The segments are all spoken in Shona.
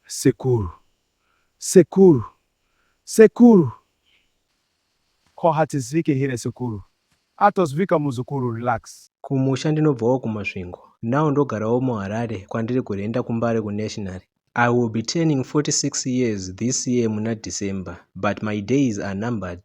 Sekuru. Sekuru. Sekuru. Ko hatizvike here sekuru. Atozvika muzukuru relax. Kumusha ndinobvawo kuMasvingo now ndogarawo muHarare kwandiri kurhenda kuMbare kuNationary. I will be turning 46 years this year muna December but my days are numbered.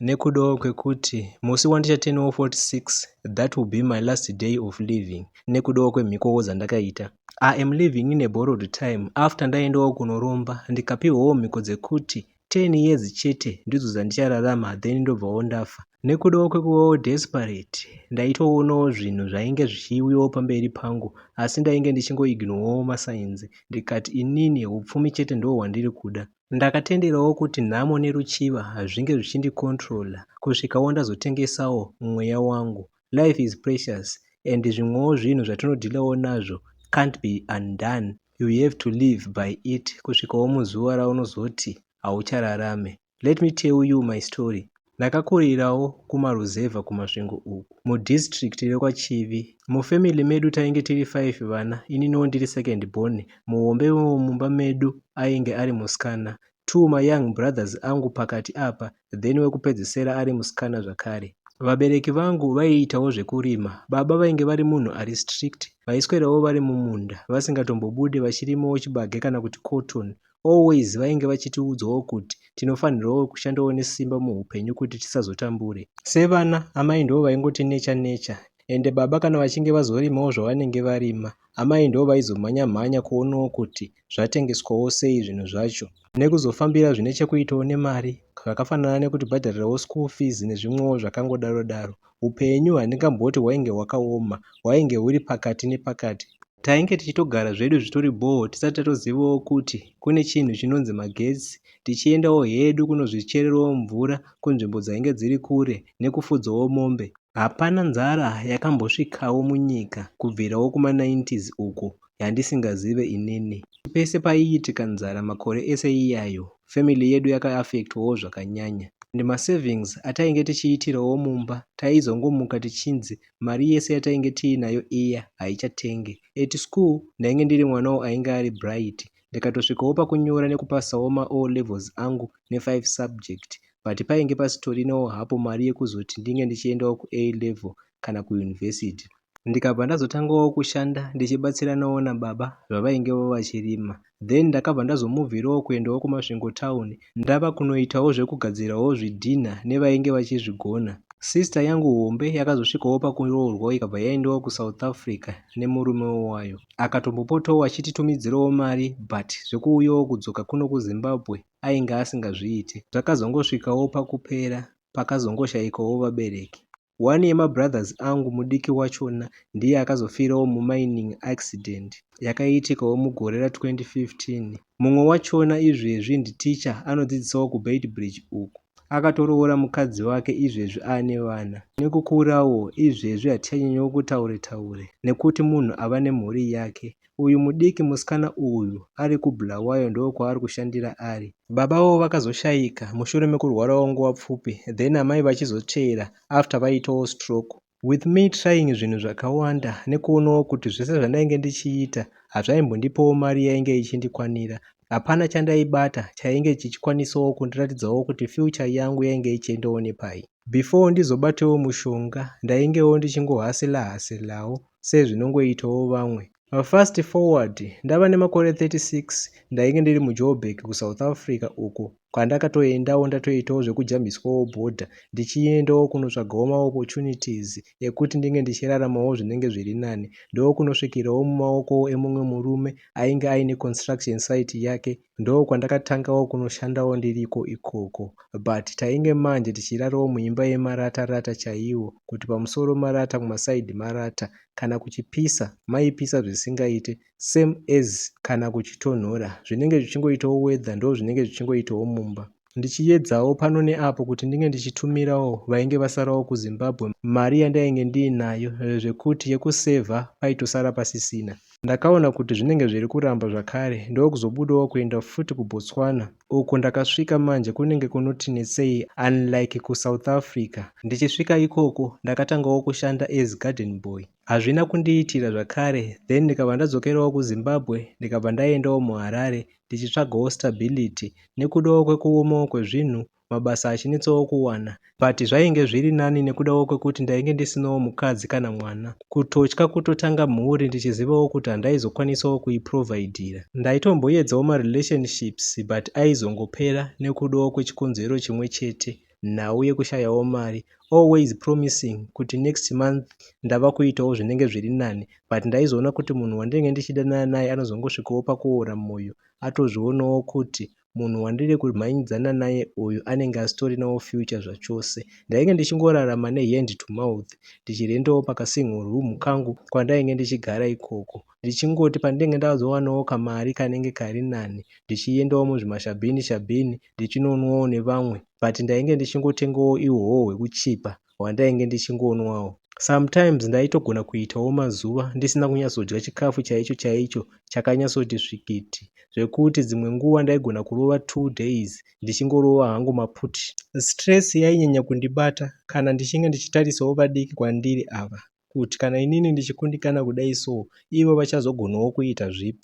nekudawo kwekuti musi wandicha turnawo 46 that will be my last day of living nekudawo kwemhikowo dzandakaita. I am living in a borrowed time after ndaendawo kunoromba ndikapihwawo mhiko dzekuti 10 years chete ndidzo dzandichararama then ndobvawo ndafa. Nekudawo kwekuvawo desperate ndaitoonawo zvinhu zvainge zvichiuyawo pamberi pangu asi ndainge ndichingoignowawo masainzi ndikati inini hupfumi chete ndihwo hwandiri kuda. Ndakatenderawo kuti nhamo neruchiva hazvinge zvichindi controller kusvikawo ndazotengesawo mweya wangu. Life is precious and zvimwewo zvinhu zvatinodhilawo nazvo can't be undone, you have to live by it kusvikawo muzuva raunozoti hauchararame. Let me tell you my story, Ndakakurirawo kumaruzevha kuMasvingo uku, mudistrict rekwaChivi. Mufamily medu tainge tiri five vana, ininiwo ndiri second born. Muhombe wemumba medu ainge ari musikana, two mayoung brothers angu pakati apa then wekupedzisira ari musikana zvakare. Vabereki vangu vaiitawo zvekurima, baba vainge vari munhu ari strict, vaiswerawo vari mumunda vasingatombobude vachirimawo chibage kana kuti cotton Always vainge vachitiudzwawo kuti tinofanirwawo kushandawo nesimba muhupenyu kuti tisazotambure. Sevana, amai ndivo vaingoti necha necha ende baba kana vachinge vazorimawo zvavanenge varima, amai ndivo vaizomhanya mhanya kuonawo kuti zvatengeswawo sei zvinhu zvacho. Nekuzofambira zvine chekuitawo nemari zvakafanana nekutibhadharirawo school fees nezvimwewo zvakangodaro daro. Hupenyu handingamboti hwainge hwakaoma, hwainge huri pakati nepakati. Tainge tichitogara zvedu zvitori bhoo tisati tatozivawo kuti kune chinhu chinonzi magetsi tichiendawo hedu kunozvichererawo mvura kunzvimbo dzainge dziri kure nekufudzawo mombe. Hapana nzara yakambosvikawo munyika kubvirawo kuma 90s uko yandisingazive inini. Pese paiitika nzara makore ese iyayo family yedu yaka affectwawo zvakanyanya and masavings atainge tichiitirawo mumba taizongomuka tichinzi mari yese yatainge tiinayo iya haichatenge at school ndainge ndiri mwanawo ainge ari bright ndikatosvikawo pakunyora nekupasawo maO levels angu nefive subject but painge pasitorinawo hapo mari yekuzoti ndinge ndichiendawo kuA level kana kuuniversity ndikabva ndazotangawo kushanda ndichibatsiranawo nababa zvavaingewo vachirima then ndakabva ndazomovirawo kuendawo kumasvingo town ndava kunoitawo zvekugadzirawo zvidhinha nevainge vachizvigona. Sister yangu hombe yakazosvikawo pakuroorwa ikabva yaendawo kusouth africa nemurume wayo akatombopotawo achititumidzirawo mari but zvekuuyawo kudzoka kuno kuzimbabwe ainge asingazviite. Zvakazongosvikawo pakupera pakazongoshaikawo vabereki. One yema brothers angu mudiki wachona ndiye akazofirawo mu mining accident yakaitikawo mugore ra 2015. Mumwe wachona izvezvi ndi teacher anodzidzisawo ku Beitbridge uku. Akatoroora mukadzi wake izvezvi aane vana. Nekukurawo izvezvi hatichanyanyowo kutaure taure nekuti munhu ava nemhuri yake Uyu mudiki musikana uyu ari kuBulawayo ndokwaari kushandira ari. Baba vavo vakazoshaika mushure mekurwarawo nguva pfupi then amai vachizotsveera after vaitawo stroke. With me trying zvinhu zvakawanda nekuonawo kuti zvese zvandainge ndichiita hazvaimbondipawo mari yainge ichindikwanira. Hapana chandaibata chainge chichikwanisawo kundiratidzawo kuti future yangu yainge ichiendawo nepai. before ndizobatewo mushonga ndaingewo ndichingo hustler hustlerwo sezvinongoitawo vamwe. Fast forward ndava nemakore 36 ndainge ndiri muJoburg kuSouth Africa uko kwandakatoendawo ndatoitawo zvekujambiswawo border ndichiendawo kunotsvagawo maopportunities ekuti ndinge ndichiraramawo zvinenge zviri nani ndokunosvikirawo mumaoko emumwe murume ainge aine construction site yake ndokwandakatangawo kunoshandawo ndiriko ikoko but tainge manje tichirarawo muimba yemarata rata chaiwo kuti pamusoro marata kumaside marata kana kuchipisa maipisa zvisingaite same as kana kuchitonhora zvinenge zvichingoitawo weather ndozvinenge zvichingoitawo mumba ndichiyedzawo pano neapo kuti ndinge ndichitumirawo vainge vasarawo kuzimbabwe mari yandainge ndiinayo zvekuti yekusevha paitosara pasisina ndakaona kuti zvinenge zviri kuramba zvakare ndokuzobudawo kuenda futi kubotswana uko ndakasvika manje kunenge kunoti netsei unlike kusouth africa ndichisvika ikoko ndakatangawo kushanda as garden boy hazvina kundiitira zvakare then ndikabva ndadzokerawo kuzimbabwe ndikabva ndaendawo muharare ndichitsvagawo stability nekudawo kwekuomawo kwezvinhu mabasa achinetsawo kuwana but zvainge zviri nani nekudawo kwekuti ndainge ndisinawo mukadzi kana mwana. Kutotya kutotanga mhuri ndichizivawo kuti handaizokwanisawo kuiprovidira. Ndaitomboyedzawo marelationships but aizongopera nekudawo kwechikonzero chimwe chete. nhau yekushayawo mari always promising kuti next month ndava kuitawo zvinenge zviri nani but ndaizoona kuti munhu wandinenge ndichidanana naye anozongosvikawo pakuora mwoyo atozvionawo kuti munhu wandiri kumhanyidzana naye uyu anenge asitorinawo future zvachose ndainge ndichingorarama nehand to mouth ndichirendawo pakasingle room kangu kwandainge ndichigara ikoko ndichingoti pandinenge ndazowanawo kamari kanenge kari nani ndichiendawo muzvimashabhini shabhini ndichinonwawo nevamwe but ndainge ndichingotengawo ihwohwo hwekuchipa hwandainge ndichingonwawo. Sometimes ndaitogona kuitawo mazuva ndisina kunyatsodya chikafu chaicho chaicho chakanyatsoti svikiti zvekuti dzimwe nguva ndaigona kurova two days ndichingorova hangu maputi. Stress yainyanya kundibata kana ndichinge ndichitarisawo vadiki kwandiri ava. kut kana inini ndichikundikana kudai so ivo vachazogonawo kuita zvip.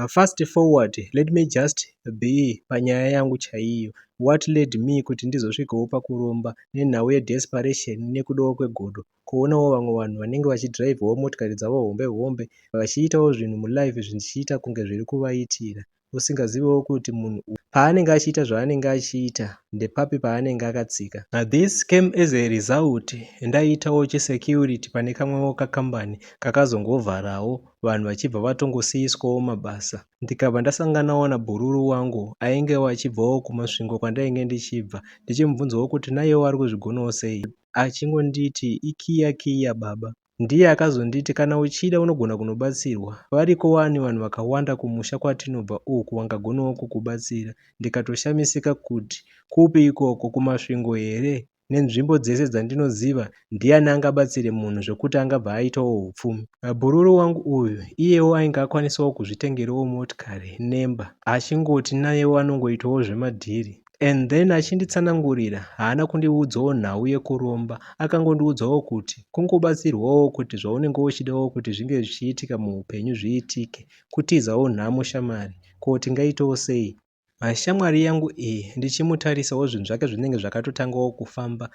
Fast forward let me just be panyaya yangu chaiyo what led me kut ndizosvikawo pakuromba nenhau ye desperation nekudawo kwegodo kuonawo vamwe vanhu vanenge vachidrivawo motikari dzavo hombe hombe vachiitawo zvinhu mulife zvindichiita kunge zvirikuvaitira usingazivewo kuti munhu uyu paanenge achiita zvaanenge achiita ndepapi paanenge akatsika. This came as a result ndaiitawo chisecurity pane kamwewo kakambani kakazongovharawo vanhu vachibva vatongosiiswawo mabasa ndikabva ndasanganawo nabhururu wangu aingewo achibvawo kuMasvingo kwandainge ndichibva ndichimubvunzawo kuti naiyewo ari kuzvigonawo sei achingonditi ikiya kiya baba Ndiye akazonditi kana uchida unogona kunobatsirwa. Variko wani vanhu vakawanda kumusha kwatinobva uku vangagonawo kukubatsira. Ndikatoshamisika kuti kupi ikoko, kuMasvingo here? Nenzvimbo dzese dzandinoziva ndiani angabatsire munhu zvekuti angabva aitawo hupfumi? Bhururu wangu uyu iyewo ainge akwanisawo kuzvitengerawo motikari nemba achingoti nayewo anongoitawo zvemadhiri. and then achinditsanangurira haana kundiudzawo nhau yekuromba akangondiudzawo kuti kungobatsirwawo kuti zvaunenge uchidawo kuti zvinge zvichiitika muupenyu zviitike kutizawo nhamo shamwari ko tingaitawo sei mashamwari yangu iyi ndichimutarisawo zvinhu zvake zvinenge zvakatotangawo kufamba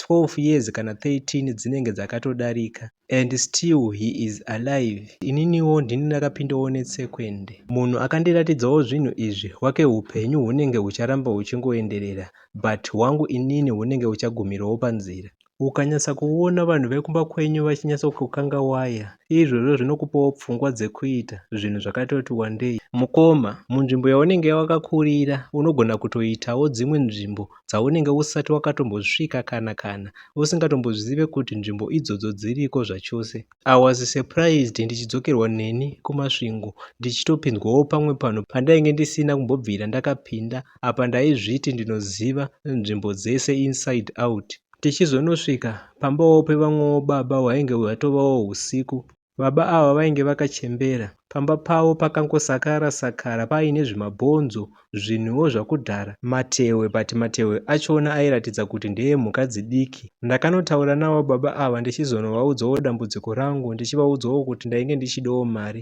12 years kana 13 dzinenge dzakatodarika and still he is alive ininiwo ndini ndakapindawo netsekwende munhu akandiratidzawo zvinhu izvi wake upenyu hunenge hucharamba huchingoenderera but hwangu inini hunenge huchagumirawo panzira ukanyatsa kuona vanhu vekumba kwenyu vachinyatsa kukanga waya izvozvo zvinokupawo pfungwa dzekuita zvinhu zvakatoti wandei mukoma munzvimbo yaunenge wakakurira unogona kutoitawo dzimwe nzvimbo dzaunenge usati wakatombosvika kana kana usingatombozive kuti nzvimbo idzodzo dziriko zvachose. I was surprised ndichidzokerwa neni kuMasvingo ndichitopinzwawo pamwe panhu pandainge ndisina kumbobvira ndakapinda apa ndaizviti ndinoziva nzvimbo dzese inside out. Tichizonosvika pambawo pevamwewo baba hwainge hwatovawo husiku. Baba ava vainge vakachembera. Pamba pavo pakangosakara sakara paine zvimabhonzo, zvinhuwo zvakudhara, matehwe but matehwe achona airatidza kuti ndeemhuka dzidiki. Ndakanotaura navo baba ava ndichizonovaudzawo dambudziko rangu ndichivaudzawo kuti ndainge ndichidawo mari.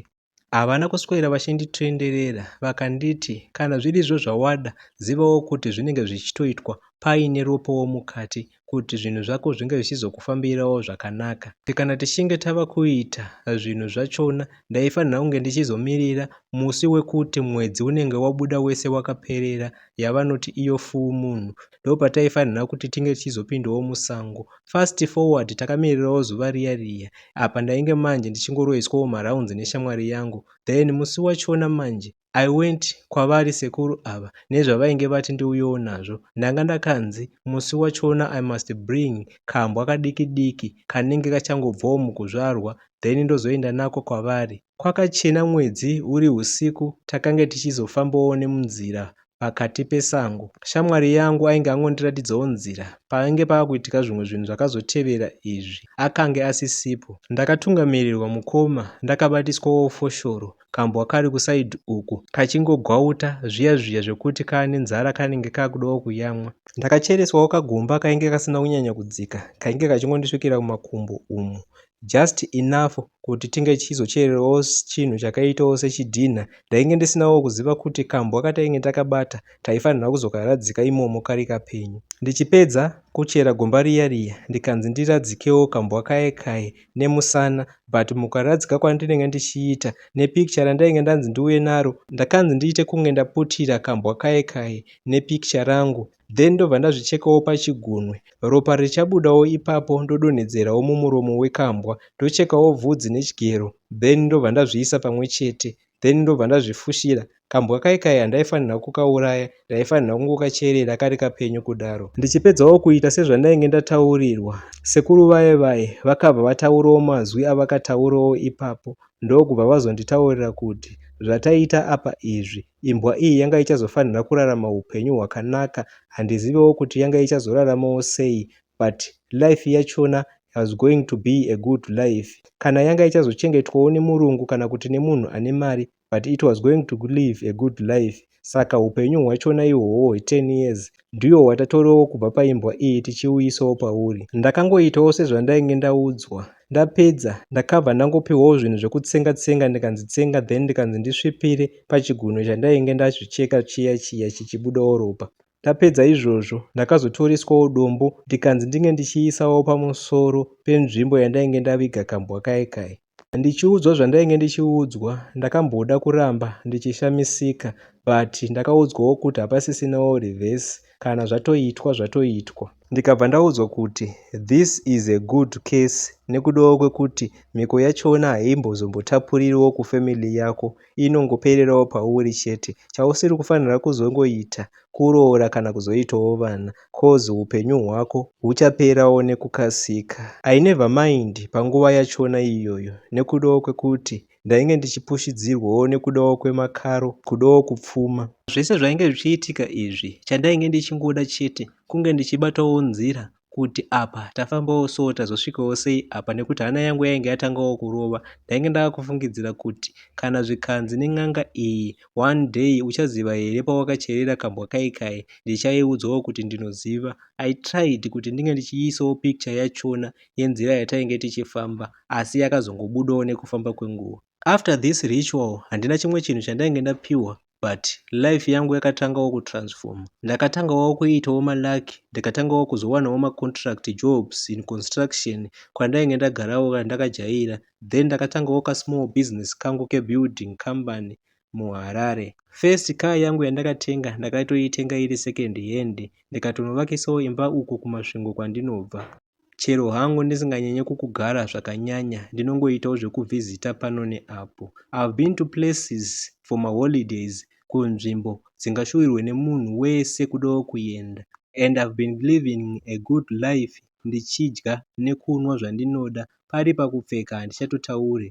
Havana kuswera vachinditenderera vakanditi kana zvirizvo zvawada zivawo kuti zvinenge zvichitoitwa paine ropawo mukati kuti zvinhu zvako zvinge zvichizokufambirawo zvakanaka. Kana tichinge tava kuita zvinhu zvachona ndaifanira kunge ndichizomirira musi wekuti mwedzi unenge wabuda wese wakaperera yavanoti iyo full moon ndopataifanira kuti tinge tichizopindawo musango. Fast forward takamirirawo zuva riya riya apa ndainge manje ndichingoroiswawo marounds neshamwari yangu then musi wachona manje I went kwavari sekuru ava nezvavainge vati ndiuyewo nazvo ndanga ndakanzi musi wachona I must bring kambwa kadiki diki kanenge kachangobvawo mukuzvarwa then ndozoenda nako kwavari. Kwakachena mwedzi uri husiku takange tichizofambawo nemunzira pakati pesango shamwari yangu ainge angondiratidzawo nzira pakange pava kuitika zvimwe zvinhu zvakazotevera izvi akange asisipo ndakatungamirirwa mukoma ndakabatiswawo foshoro kambwa kari kuside uku kachingogwauta zviya zviya zvekuti kaane nzara kanenge kakudawo kuyamwa. Ndakachereswawo kagomba kainge kasina kunyanya kudzika kainge kachingondisvikira mumakumbo umu just enough kuti tinge tichizochererawo chinhu chakaitawo sechidhinha. Ndainge ndisinawo kuziva kuti kambwa katainge takabata taifanirwa kuzokaradzika imomo kari kapenyu. Ndichipedza kuchera gomba riya riya ndikanzi ndiradzikewo kambwa kaye kaye nemusana but mukuradzika kwandinenge ndichiita nepicture randainge ndanzi ndiuye naro ndakanzi ndiite kunge ndaputira kambwa kaye kaye nepicture rangu then ndobva ndazvichekawo pachigunwe ropa richabudawo ipapo ndodonhedzerawo mumuromo wekambwa ndochekawo bvudzi nechigero then ndobva ndazviisa pamwe chete then ndobva ndazvifushira kambwa kai kai handaifanirwa kukauraya ndaifanirwa kungokacherera kari kapenyu kudaro ndichipedzawo kuita sezvandainge ndataurirwa sekuru vaye vaye vakabva vataurawo mazwi avakataurawo ipapo ndokubva vazonditaurira kuti zvataita apa izvi imbwa iyi yanga ichazofanira kurarama upenyu hwakanaka handizivewo kuti yanga ichazoraramawo sei but life yachona was going to be a good life kana yanga ichazochengetwawo nemurungu kana kuti nemunhu ane mari but it was going to live a good life saka upenyu hwachona ihwohwo hwe 10 years ndiwo watatorewo kubva paimbwa iyi tichiuyisawo pauri ndakangoitawo sezvandainge ndaudzwa ndapedza ndakabva ndangopiwawo zvinhu zvekutsenga tsenga ndikanzi tsenga then ndikanzi ndisvipire pachigunwe chandainge ndazvicheka chiya chiya chichibudawo ropa Ndapedza izvozvo ndakazotoreswawo dombo ndikanzi ndinge ndichiisawo pamusoro penzvimbo yandainge ndaviga kambwa kaye kaye. Ndichiudzwa zvandainge ndichiudzwa ndakamboda kuramba ndichishamisika but ndakaudzwawo kuti hapasisinawo reverse kana zvatoitwa zvatoitwa. Ndikabva ndaudzwa kuti this is a good case nekudawo kwekuti mhiko yachona haimbozombotapuririwo kufamily yako inongopererawo pauri chete chausiri kufanira kuzongoita kuroora kana kuzoitawo vana coz hupenyu hwako huchaperawo nekukasika I never mind panguva yachona iyoyo nekudawo kwekuti ndainge ndichipushidzirwawo nekudawo kwemakaro kudawo kupfuma. Zvese zvainge zvichiitika izvi chandainge ndichingoda chete kunge ndichibatawo nzira kuti apa tafambawo so tazosvikawo sei apa nekuti hana yangu yainge yatangawo kurova ndainge ndaakufungidzira kuti kana zvikanzi nen'anga iyi one day uchaziva here pawakacherera kambwa kai kai ndichaiudzwawo kuti ndinoziva i tried kuti ndinge ndichiisawo picture yachona yenzira yatainge tichifamba asi yakazongobudawo nekufamba kwenguva after this ritual handina chimwe chinhu chandainge ndapiwa but life yangu yakatangawo kutransformer ndakatangawo kuitawo malucky ndikatangawo kuzowanawo macontract jobs in construction kwandainge ndagarawo kana ndakajaira then ndakatangawo kasmall business kangu kebuilding company muharare first car yangu yandakatenga ndakatoitenga iri second hand ndikatonovakisawo imba uko kumasvingo kwandinobva Chero hangu ndisinganyanye kukugara zvakanyanya ndinongoitawo zvekuvhizita pano neapo. I've been to places for maholidays kunzvimbo dzingashuwirwe nemunhu wese kudawo kuenda and I've been living a good life ndichidya nekunwa zvandinoda pari pakupfeka handichatotaure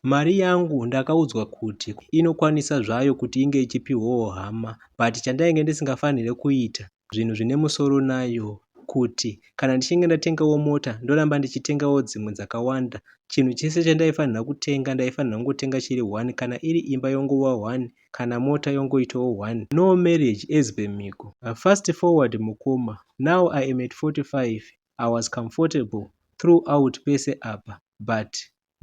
Mari yangu ndakaudzwa kuti inokwanisa zvayo kuti inge ichipihwawo hama but chandainge ndisingafanire kuita zvinhu zvine musoro nayo kuti kana ndichinge ndatengawo mota ndoramba ndichitengawo dzimwe dzakawanda chinhu chese chandaifanira kutenga ndaifanira kungotenga chiri one kana iri imba yongova one kana mota yongoitawo one no marriage as per miko fast forward mukoma now i am at 45 i was comfortable throughout pese apa but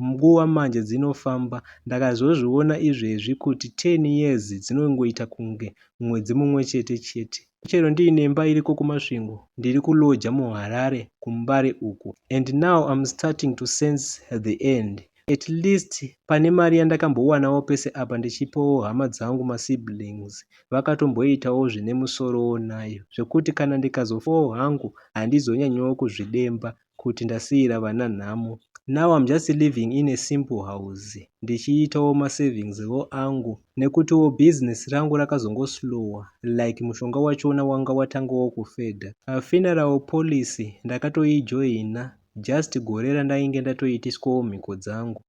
Nguva manje dzinofamba ndakazozviona izvezvi kuti ten years dzinongoita kunge mwedzi mumwe chete chete. Chero ndiine imba iriko kuMasvingo ndiri kuLodger muHarare kuMbare uku and now I'm starting to sense the end at least pane mari yandakambowanawo pese apa ndichipawo hama dzangu masiblings vakatomboitawo zvine musorowo nayo zvekuti kana ndikazofawo hangu handizonyanyowo kuzvidemba kuti ndasiira vana nhamo now I'm just living in a simple house ndichiitawo ma savings wo angu nekutiwo business rangu rakazongo slower like mushonga wachona wanga watangawo kufedha. Funeral policy ndakatoijoina just gore randainge ndatoitiswawo mhiko dzangu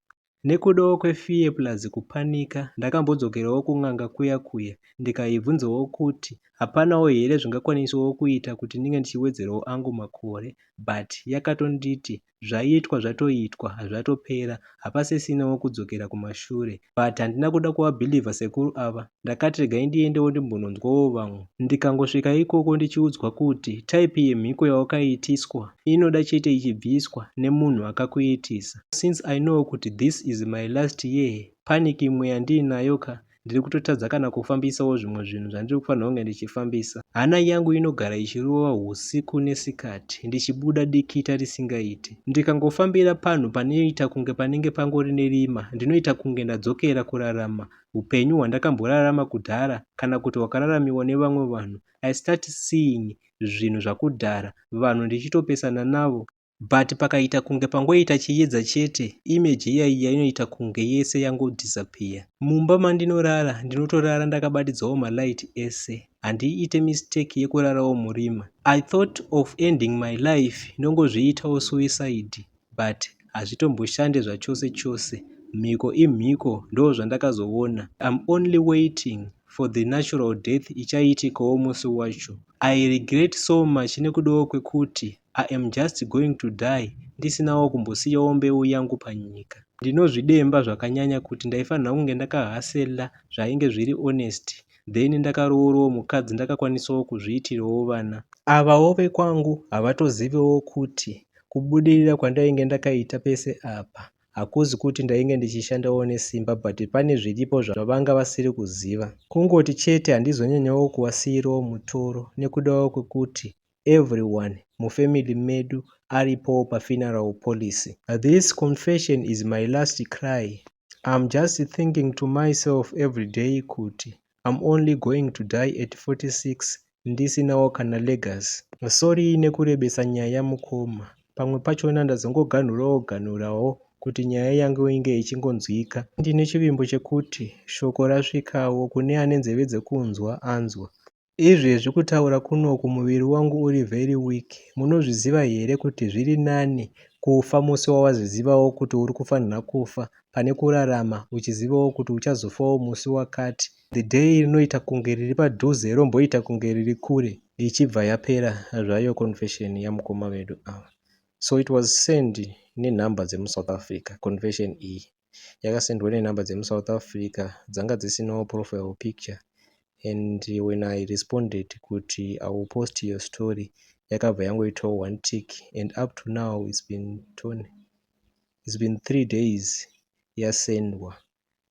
Nekudawo kwe fear plus kupanika ndakambodzokerawo kun'anga kuya kuya ndikaibvunzawo kuti hapanawo here zvingakwanisawo kuita kuti ndinge ndichiwedzerawo angu makore but yakatonditi zvaitwa zvatoitwa hazvatopera hapasisinawo kudzokera kumashure but handina kuda kuvabhilivha sekuru ava ndakati regai ndiendewo ndimbononzwawo vamwe ndikangosvika ikoko ndichiudzwa kuti type yemhiko yawakaitiswa inoda chete ichibviswa nemunhu akakuitisa. Since I know kuti this is my last year panic imwe yandiinayo ka ndiri kutotadza kana kufambisawo zvimwe zvinhu zvandiri kufanirwa kunge ndichifambisa. Hana yangu inogara ichirova husiku nesikati ndichibuda dikita risingaiti. Ndikangofambira panhu panoita kunge panenge pangori nerima ndinoita kunge ndadzokera kurarama hupenyu hwandakamborarama kudhara kana kuti hwakararamiwa nevamwe vanhu. I start seeing zvinhu zvakudhara, vanhu ndichitopesana navo. but pakaita kunge pangoita chiyedza chete image iya iya inoita kunge yese yangodisappear. Mumba mandinorara ndinotorara ndakabatidzawo malight ese handiite mistake yekurarawo murima. I thought of ending my life ndongozviitawo suicide but hazvitomboshande zvachose chose mhiko imhiko ndo zvandakazoona im only waiting for the natural death ichaitikawo musi wacho i regret so much nekudawo kwekuti I am just going to die ndisinawo kumbosiyawo mbeu yangu panyika. Ndinozvidemba zvakanyanya kuti ndaifanirwa kunge ndaka hustler zvainge zviri honest then ndakaroorowo mukadzi ndakakwanisawo kuzviitirawo vana. Avawo vekwangu havatozivewo kuti kubudirira kwandainge ndakaita pese apa hakuzi kuti ndainge ndichishandawo nesimba but pane zviripo zvavanga vasiri kuziva. Kungoti chete handizonyanyawo kuvasiirawo mutoro nekudawo kwekuti everyone mufamily medu aripowo pafuneral policy. This confession is my last cry I'm just thinking to myself everyday kuti I'm only going to die at 46 ndisinawo kana legacy. Sorry nekurebesa nyaya mukoma, pamwe pachona ndazongoganhurawo ganhurawo kuti nyaya yangu inge ichingonzwika. Ndine chivimbo chekuti shoko rasvikawo kune ane nzeve dzekunzwa anzwa. Izvezvi kutaura kunoku muviri wangu uri very weak munozviziva here kuti zviri nani kufa musi wawazizivawo kuti uri kufanira kufa pane kurarama uchizivawo kuti uchazofawo musi wakati the day rinoita kunge riri padhuze romboita kunge riri kure ichibva yapera zvayo confession yamukoma vedu ava so it was send nenhamba dzemusouth africa confession iyi yakasendwa nenhamba dzemuSouth Africa dzanga dzisinawo profile picture and when I responded kuti I will post your story yakabva yangoitawo one tick and up to now it's been, it's been three days yasendwa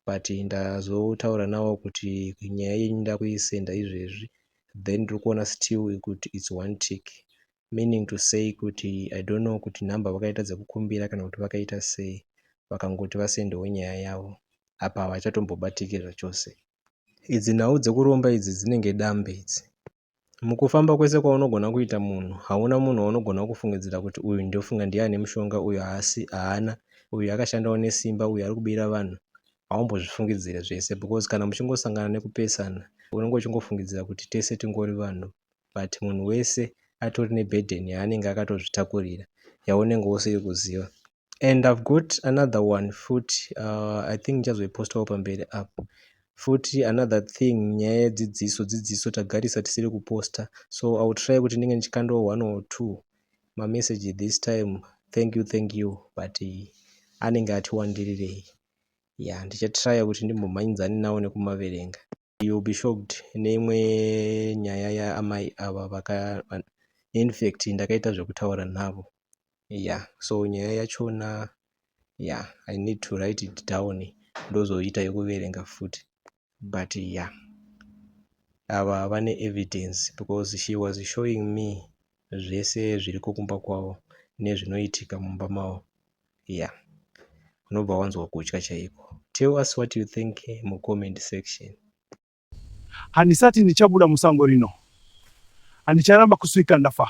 but ndazotaura nawo kuti nyaya yenyu ndakuisenda izvezvi then ndiri kuona still kuti it's one tick meaning to say kuti I don't know kuti number vakaita dzekukumbira kana kuti vakaita sei vakangoti vasendewo nyaya yavo apa havachatombobatiki zvachose. Idzi nhau dzekuromba idzi dzinenge dambe idzi. Mukufamba kwese kwaunogona kuita munhu hauna munhu waunogona kufungidzira kuti uyu ndofunga ndiye ane mushonga uyu haasi haana uyu akashandawo nesimba uyu ari kubira vanhu haumbozvifungidzire zvese because kana muchingosangana nekupesana unenge uchingofungidzira kuti tese tingori vanhu but munhu wese atori ne burden yaanenge akatozvitakurira yaunenge usiri kuziva and I've got another one futi uh, I think ndichazoipostawo pamberi apo futi another thing nyaya yedzidziso dzidziso tagarisa tisiri kuposta so I will try kuti ndinge ndichikandawo one or two mamessage this time thank you thank you but eh, anenge atiwandirirei ya ndichatraya kuti ndimbomhanyidzane nawo nekumaverenga you will be shocked neimwe nyaya yaamai ava vaka infact ndakaita zvekutaura navo ya yeah. so nyaya yachona ya yeah, i need to write it down ndozoita yekuverenga futi but ya yeah. ava vane evidence because she was showing me zvese zviriko kumba kwavo nezvinoitika mumba mavo yeah unobva wanzwa kutya chaiko tell us what you think mucomment section handisati ndichabuda musango rino handicharamba kusvika ndafa